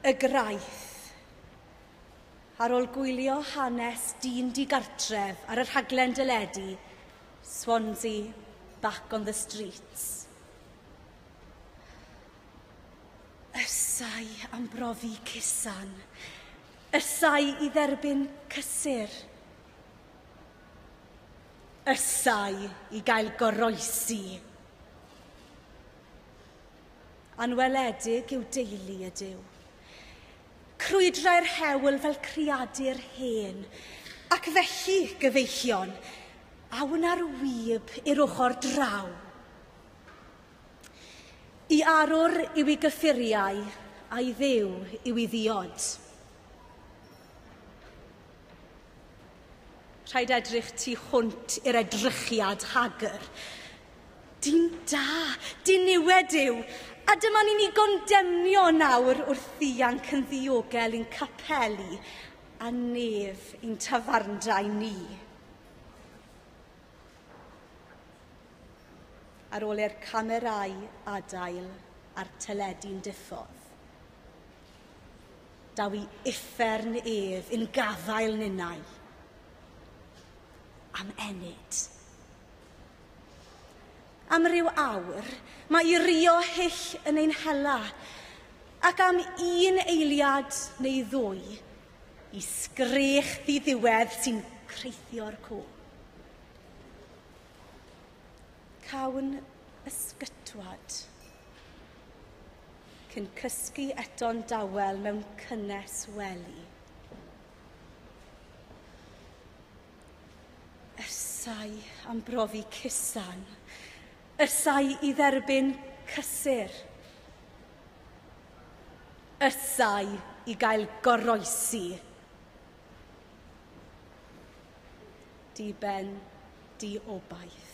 Y Graith. Ar ôl gwylio hanes dyn digartref ar y rhaglen deledu Swansea Back on the Streets, Ysau am brofi cusan. Ysau i dderbyn cysur. Ysau i gael goroesi. Anweledig yw deulu y Duw. Crwydrai'r hewl fel creadur hen, ac felly, gyfeillion, a wna'r wib i'r ochr draw. I arwr yw i gyffuriau, a'i dduw yw i ddiod. Rhaid edrych tu hwnt i'r edrychiad hagr. Dyn da, diniwed yw, a dyma ni'n ei gondemnio nawr wrth ianc yn ddiogel i'n capeli a nef i'n tafarndai ni. Ar ôl i'r camerâu adael a'r teledu'n diffodd, Daw i uffern ef in gafael ninnau. Am ennyd. Am ryw awr, mae i rio hyll yn ein hela, ac am un eiliad neu ddwy, i sgrech ddiddiwedd sy'n creithio'r co. Cawn ysgytwad. Cyn cysgu eto'n dawel mewn cynnes wely. Ersau am brofi cusan. Ersau i dderbyn cysur. Ersau i gael goroesi. Diben diobaith.